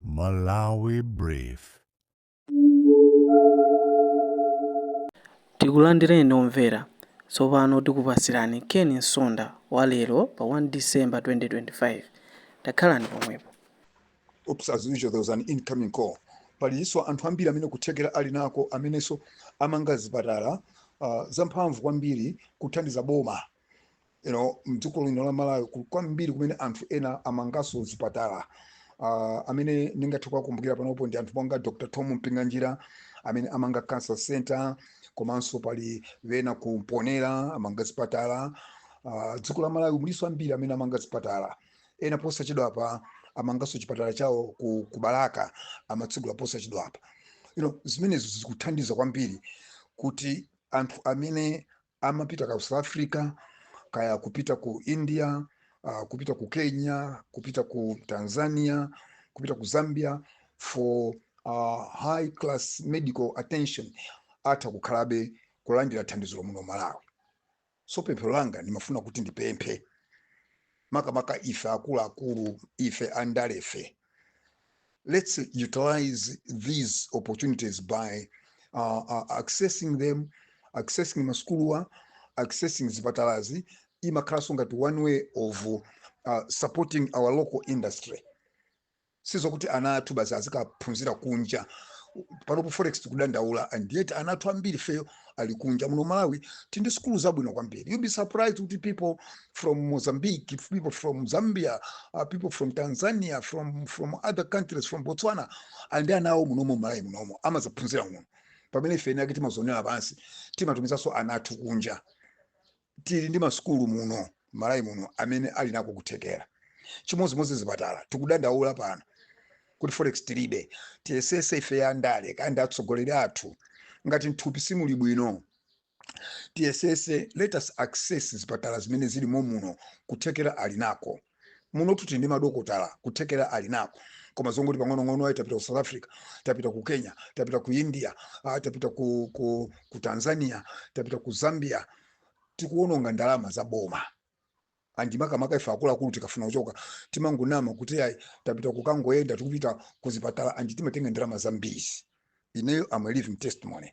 Malawi Brief. Tikulandireni omvera. Tsopano tikupatsirani Ken Nsonda wa lero pa 1 December 2025. Takhalani pomwepo. Oops, as usual, there was an incoming call. Palinso anthu ambiri amene kuthekera ali nako amenenso amanga zipatala uh, zamphamvu kwambiri kuthandiza boma you know, mdziko lino la malawi kuli kwambiri kumene anthu ena amanganso zipatala uh, amene ndingathe kuwakumbukira panopo ndi anthu monga dr tom mpinganjira amene amanga cancer center komanso pali wena ku mponera amanga zipatala uh, dziko la malawi mulinso ambiri amene amanga zipatala ena posachedwapa amanganso chipatala chawo ku, ku balaka amatsegula posachedwapa you know, zimenezo zikuthandiza kwambiri kuti anthu amene amapita ka south africa kaya kupita ku india uh, kupita ku kenya kupita ku tanzania kupita ku zambia for uh, high class medical attention atha kukhalabe kulandira thandizo muno malawi so pempho langa ndimafuna kuti ndipemphe makamaka ife akuluakulu ife andalefe let's utilize these opportunities by uh, uh, accessing them accessing masukuluwa accessing zipatalazi imakhalanso ngati one way of uh, supporting our local industry sizokuti ana athu basi azikaphunzira kunja panopo forex tikudandaula and yet ana athu ambiri ifeyo ali kunja muno malawi tili ndi sukulu zabwino kwambiri you'll be surprised kuti people from mozambique people from zambia uh, people from tanzania from, from other countries from botswana ali ndi ana awo munomo malawi munomo amazaphunzira muno pamene ife eni ake timazonera pansi timatumizanso ana athu kunja tili ndi masukulu muno m'malawi muno amene ali nako kuthekera chimodzimodzi zipatala tikudandaula pano kuti forex tilibe tiyesese ife andale kaya ndi atsogoleri athu ngati mthupi simuli bwino tiyesese let us access zipatala zimene zili momuno kuthekera ali nako munotu tili ndi madokotala kuthekera ali nako koma zongoti pang'onong'ono ayi tapita ku south africa tapita ku kenya tapita ku india ah, tapita ku, ku, ku tanzania tapita ku zambia tikuwononga ndalama za boma andi makamaka ife akuluakulu tikafuna kuchoka timangonama kuti ayi tapita kukangoyenda tikupita kuzipatala andi timatenga ndalama zambiri ineyo I'm a living testimony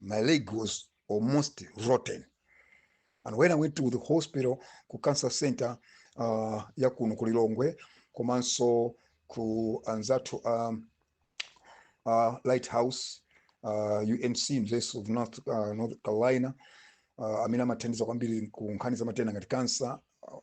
my leg was almost rotten and when i went to the hospital ku cancer center uh, ya kuno ku lilongwe komanso ku anzathu um, uh, lighthouse uh, unc university of north, uh, north carolina uh, amene amathandiza kwambiri ku nkhani za matenda ngati cancer uh,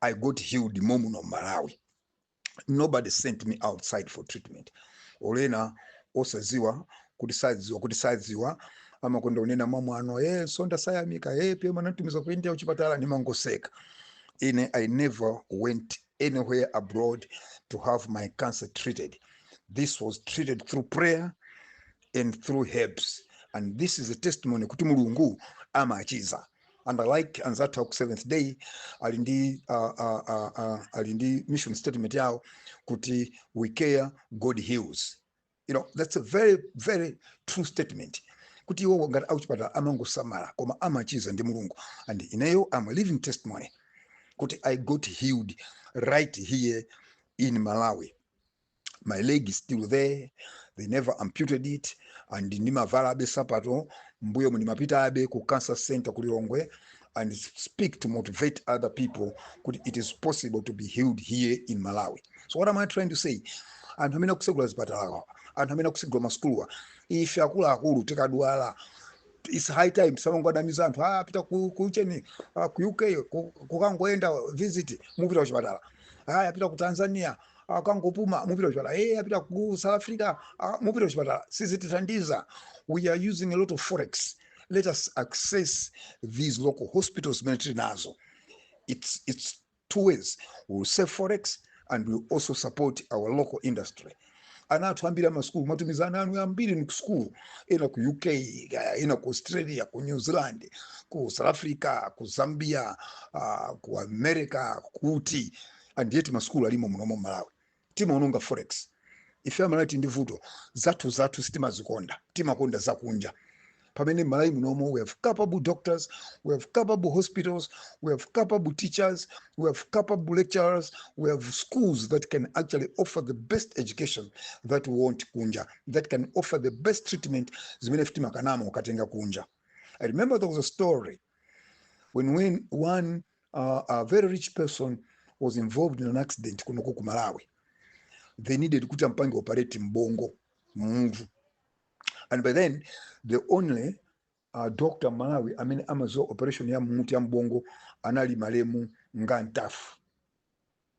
i got healed momuno mmalawi nobody sent me outside for treatment olo ena osaziwa kuti saziwa kuti saziwa amakonda unena mwamwano e msonda sayamika apm anatumiza ku india kuchipatala ndimangoseka ine i never went anywhere abroad to have my cancer treated this was treated through prayer and through herbs and this is a testimony kuti mulungu amachiza and i like anzathu aku seventh day ali ndi uh, uh, uh, uh, ali ndi mission statement yawo kuti we care god heals you know that's a very very true statement kuti iwowo ngati akuchipatala amangosamala koma amachiza ndi mulungu and ineyo am a living testimony kuti i got healed right here in malawi my leg is still there they never amputed it and ndimavalabe sapato mbuyo ndimapitabe ku cancer center ku lilongwe and speak to motivate other people kuti it is possible to be healed here in malawi so what am i trying to say anthu amene akusegula zipatalawa anthu amene akusegula masukuluwa ife akuluakulu tikadwala it's high time tisamangowanamiza anthu ah, apita ku, ku chani ah, ku uk ku- kukangoenda visit mupita kuchipatala ah, apita ku tanzania akangopuma mupita kuchipatala e apita ku south africa mupita kuchipatala sizitithandiza we are using a lot of forex let us access these local hospitals zimene tili nazo it's, it's two ways we will save forex and we will also support our local industry ana athu ambiri amasukulu mumatumiza ana anu ambiri ni kusukulu ena ku uk ena ku australia ku new zealand ku south africa ku zambia uh, ku america kuti and yet ma school alimo munomo mmalawi timaononga forex ife amalawi tili ndi vuto zathu zathu sitimazikonda timakonda zakunja pamene mmalawi munomo we have capable doctors we have capable hospitals we have capable teachers we have capable lecturers we have schools that can actually offer the best education that we want kunja that can offer the best treatment zimene ife timakanamo ukatenga kunja i remember there was a story when, when one uh, a very rich person was involved in an accident kunoko ku malawi they needed kuti ampange operate mbongo mmutu and by then the only uh, doctor mmalawi amene amaziwa operation ya mmutu ya mbongo anali malemu nga mtafu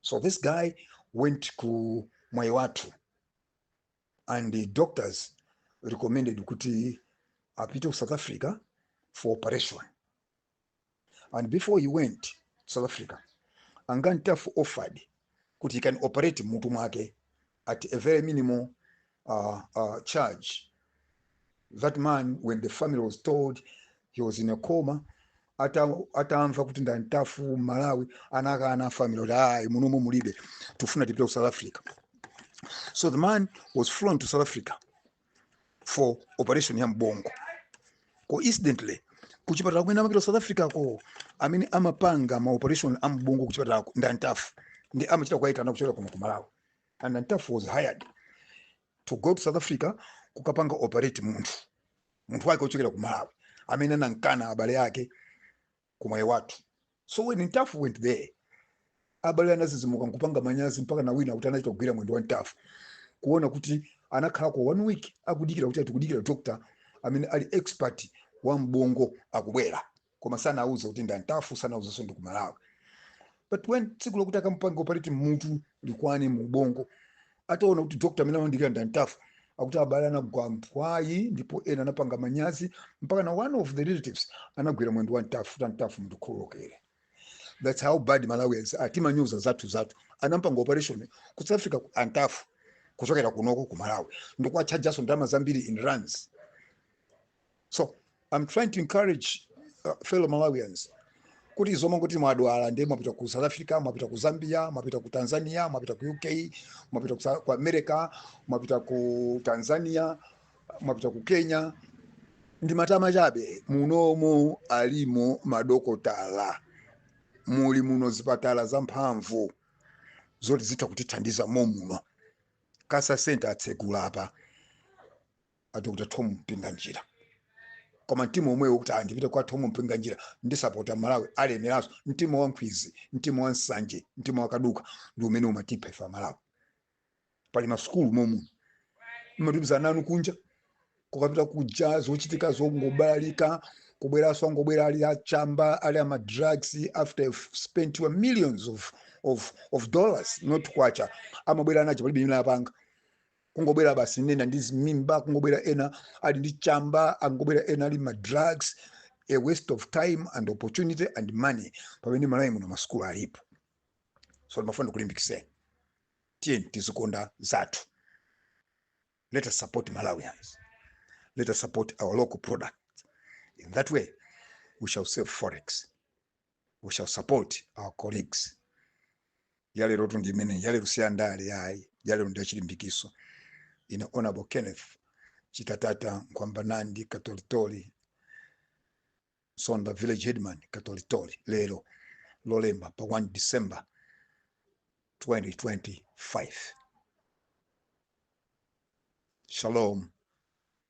so this guy went ku mwaiwathu and the doctors recommended kuti apite ku south africa for operation and before he went to south africa a nga ntafu offered kuti he can operate mmutu mwake at a very minimal uh, uh, charge that man when the family was told he was in a coma ata- atamva kuti ndi antafu mmalawi anakana family kuti ayi munomo mulibe tifuna tipite ku south africa so the man was flown to south africa for operation ya mbongo coincidentally kuchipatala kumene amapita south africa ko amene amapanga ma operation a mbongo kuchipatalako ndi antafu ndi amachita kuwaitana kuchokera kuno ku malawi and antafu was hired to go to south africa kukapanga operate munthu munthu wake wochokera ku malawi amene anamkana abale ake ku mwaiwathu so when ntafu went there abale anazizimuka nkupanga manyazi mpaka na wina kuti anachita kugwira mwendo wa ntafu kuona kuti anakhala kwa one week akudikira kuti atikudikira doctor amene ali expert wa mbongo akubwera koma sanauze kuti ndi antafu sanauzenso ndi kumalawi but when tsiku lokuti akamupange operate mmutu likwane mu ubongo ataona kuti doctor amene amamdikira ndi antafu akuti abale anagwa mphwayi ndipo ena anapanga manyazi mpaka na one of the relatives anagwira mwendo wa ntafu kuti antafu mundikhululukire that's how bad malawians are timanyoza zathu zathu anampanga operation ku south africa ko antafu kuchokera kunoko ku malawi ndikuwatchajaso ndalama zambiri in rands so i'm trying to encourage uh, fellow malawians kuti zomakuti mwadwala ndiye mwapita ku south africa mwapita ku zambia mwapita ku tanzania mwapita ku uk mwapita ku, Sa- ku america mwapita ku tanzania mwapita ku kenya ndi matama chabe munomu alimo madokotala muli muno zipatala zamphamvu zoti zitha kutithandiza mommuno cancer center atsegula apa a dr tom mpinganjira koma mtima omwewo kuti ah, ndipite kwa tom mpinganjira ndisapota mmalawi alemeranso mtima wa nkhwizi mtima wa nsanje mtima wa kaduka ndi umene umatipha ife amalawi pali masukulu momu mmatumiza ana anu kunja kukapita kuja zochitika zongobalalika kubweranso angobwera ali achamba ali ama drugs after you've spent your millions of, of, of dollars not kwacha amabwera anajo palibe imene apanga kungobwera basi ena ndi zimimba kungobwera ena ali ndi chamba angobwera ena ali ma drugs a waste of time and opportunity and money pamene mmalawi muno masukulu alipo so ndimafuna ndikulimbikitseni tiyeni tizikonda zathu let us support malawians let us support our local product in that way we shall save forex we shall support our colleagues yalerotu ndi imeneyi yalero si andale yayi yalero ndi yachilimbikitso ine honorable kenneth chitatata nkwambanandi katolitoli sonda village headman katolitoli lero lolemba pa 1 december 2025 shalom